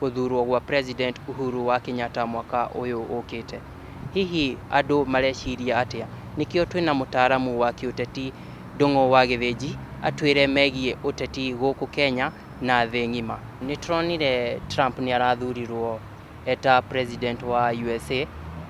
gũthurwo gwa President Uhuru wa Kenyatta mwaka ũyũ ũkĩte. Hihi andũ mareciria atĩa? Nĩkĩo twĩna mũtaaramu wa kĩũteti Ndũng'ũ wa Gĩthĩnji atwĩre megiĩ ũteti gũkũ Kenya na thĩ ng'ima. Nĩtũronire Trump nĩarathurirwo eta President wa USA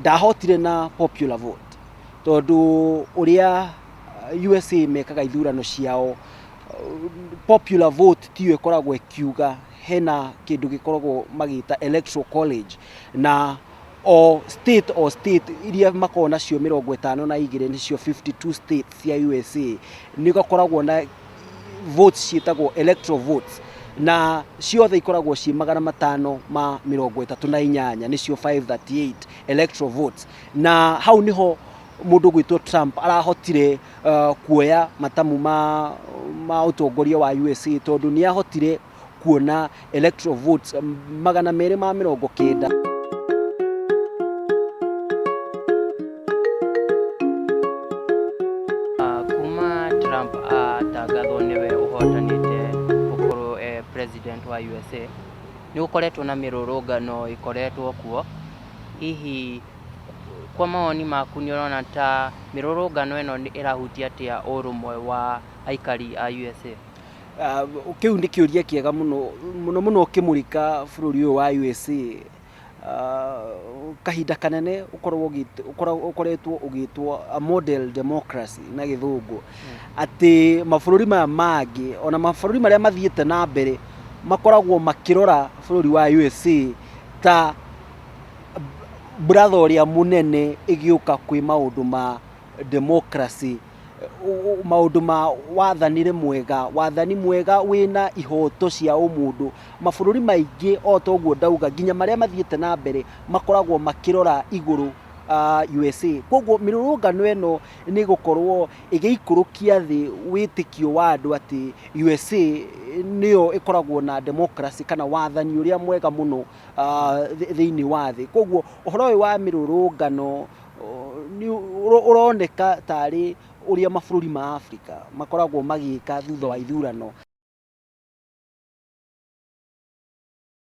ndahotire na popular vote tondũ ũrĩa USA mekaga ithurano ciao popular vote tiyo ĩkoragwo ĩkiuga hena kĩndũ gĩkoragwo magĩta electoral college na o state o state iria makoragwo nacio mĩrongo ĩtano na igĩrĩ nĩcio 52 states cia USA nĩgakoragwo na votes ciĩtagwo electoral votes na ciothe ikoragwo ciĩ magana matano ma mĩrongo ĩtatũ na inyanya nĩcio 538 electoral votes na hau nĩho mũndũ gwĩtwo Trump arahotire uh, kuoya matamu ma, ma ũtongoria wa USA tondũ nĩ ahotire kuona electoral votes magana merĩ ma mĩrongo kenda. Ah, kuma Trump atangathwo nĩwe ũhotanĩte gũkorwo eh, president wa USA nĩ gũkoretwo na mĩrũrũngano ĩkoretwo kuo hihi kwa mawoni maku nĩ ũrona ta mĩrũrũngano ĩno nĩ ĩrahutia atĩa ũrũmwe wa aikari a USA Ah, kĩu nĩ kĩũria kĩega mũno mũno mũno ũkĩmũrika bũrũri ũyũ wa usa Ah, kahinda kanene ũkoragwo ũgĩt- ũkoragwo- ũkoretwo ũgĩtwo a model democracy na gĩthũngũ atĩ mabũrũri maya mangĩ ona mabũrũri marĩa mathiĩte na mbere makoragwo makĩrora bũrũri wa usa ta bratha ũrĩa mũnene ĩgĩũka kwĩ maũndũ ma democracy maũndũ ma wathanĩre mwega, wathani mwega wĩna ihoto cia ũmũndũ. Mabũrũri maingĩ o ta ũguo ndauga, nginya marĩa mathiĩte na mbere makoragwo makĩrora igũrũ USA. Kwoguo mĩrũrũngano ĩno nĩ ĩgũkorwo ĩgĩikũrũkia thĩ wĩtĩkio wa andũ atĩ USA nĩyo ĩkoragwo na democracy kana wathani ũrĩa mwega mũno thĩinĩ wa thĩ. Kwoguo ũhoro ũyũ wa mĩrũrũngano... ũroneka tarĩ ũrĩa mabũrũri ma Afrika makoragwo magĩka thutha wa ithurano.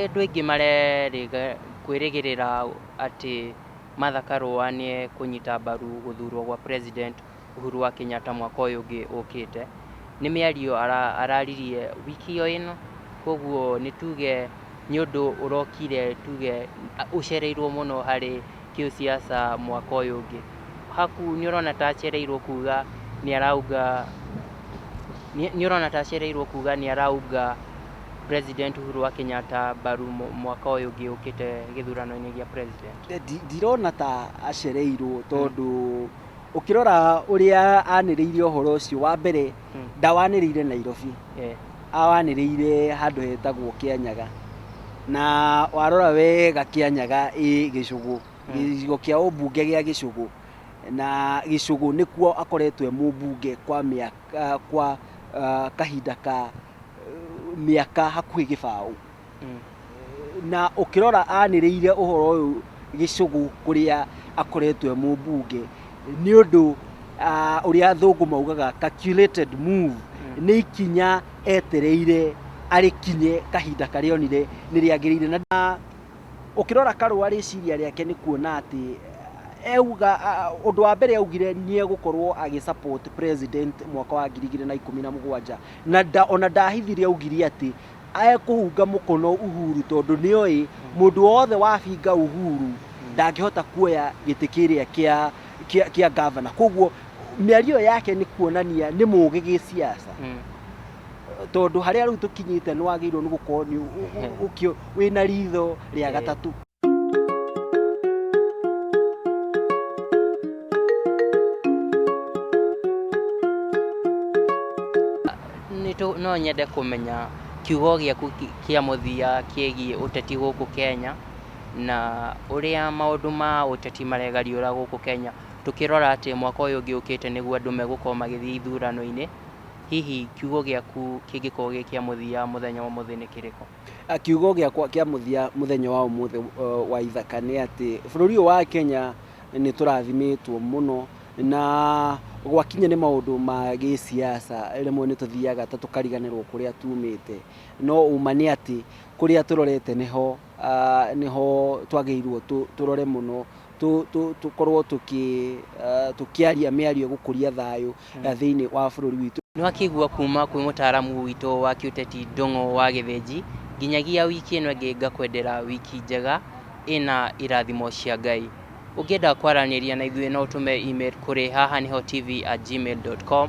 Andũ aingĩ marerĩga kwĩrĩgĩrĩra atĩ Martha Karũa nĩ ekũnyita mbaru gũthurwo gwa president. Uhuru wa Kenyatta mwaka ũyũ ũngĩ ũkĩte. Nĩ mĩario araririe wiki o ĩno, koguo nĩ tuge nĩ ũndũ ũrokire tuge ũcereirwo mũno harĩ kĩũsiasa mwaka ũyũ ũngĩ. Haku nĩ ũrona ta acereirwo kuga nĩ araunga nĩ ũrona ta acereirwo kuga nĩ araunga President Uhuru wa Kenyatta mbaru mwaka ũyũ ũngĩ ũkĩte gĩthurano-inĩ gĩa President. Ndirona ta acereirwo tondũ ũkĩrora ũrĩa anĩrĩire ũhoro ũcio wa mbere ndawanĩrĩire nairobi Eh, awanĩrĩire handũ hetagwo kĩanyaga na warora wega kĩanyaga ĩ gĩcũgũ gĩcigo kĩa ũmbunge gĩa gĩcũgũ na gĩcũgũ nĩkuo akoretwo e mũmbunge kwa mĩaka kwa ah, kahinda ka eh, mĩaka hakuhĩ gĩbaũ mm. na ũkĩrora anĩrĩire ũhoro ũyũ gĩcũgũ kũrĩa akoretwo e mũmbunge nĩ ũndũ ũrĩa athũngũ maugaga calculated move mm. nĩ ikinya etereire arĩkinye kahinda karĩa onire nĩ rĩagĩrĩire na ũkĩrora karũa rĩciria rĩake nĩ kuona atĩ euga undu wa mbere augire ni egukorwo agi support president mwaka wa 2017 na ona ndahithirie augire ati Ekũhunga mũkono Uhuru tondũ nĩoĩ mũndũ wothe wabinga Uhuru ndangĩhota kuoya gĩtĩ kĩrĩa kĩa kĩa kĩa gavana koguo mĩario ĩyo yake nĩ kuonania nĩ mũũgĩ gĩciaca tondũ harĩa rĩu tũkinyĩte nĩ wagĩrĩirwo nĩ gũkorwo nĩ ũ- ũ- ũ- ũkĩ- wĩna ritho rĩa gatatũ Nĩtũ- no nyende kũmenya kiugo gĩaku kĩ- kĩa mũthia kĩgiĩ ũteti gũkũ kenya na ũrĩa maũndũ ma ũteti maregariũra gũkũ kenya tũkĩrora atĩ mwaka ũyũ ũngĩ ũkĩte nĩguo andũ megũkorwo magĩthiĩ ithurano-inĩ hihi kiugo gĩaku kĩngĩkorwo gĩ kĩa mũthia mũthenya wa ũmũthĩ nĩ kĩrĩkũ Ah, kiugo gĩakwa kĩa mũthia mũthenya wa ũmũthĩ uh, wa ithaka nĩ atĩ bũrũri ũyũ wa kenya nĩ tũrathimĩtwo mũno na gwakinya nĩ maũndũ ma gĩsiasa rĩmwe nĩ tũthiaga ta tũkariganĩrwo kũrĩa tumĩte no uma nĩ atĩ kũrĩa tũrorete nĩho ah, nĩho twagĩrĩirwo tũ- tũrore mũno tũ- tũ- tũkorwo tũkĩ- eh, tũkĩaria mĩario ĩgũkũria thayũ eh, thĩinĩ wa bũrũri witũ Nĩ wakĩigua kuma kwĩ mũtaaramu witũ wa kĩũteti Ndũng'ũ wa Gĩthĩnji, nginyagia wiki ĩno ĩngĩ ngakwendera wiki njega ĩna irathimo cia Ngai. Ũngĩenda kwaranĩria na ithuĩ no ũtũme email kũrĩ haha nĩho tv at gmail.com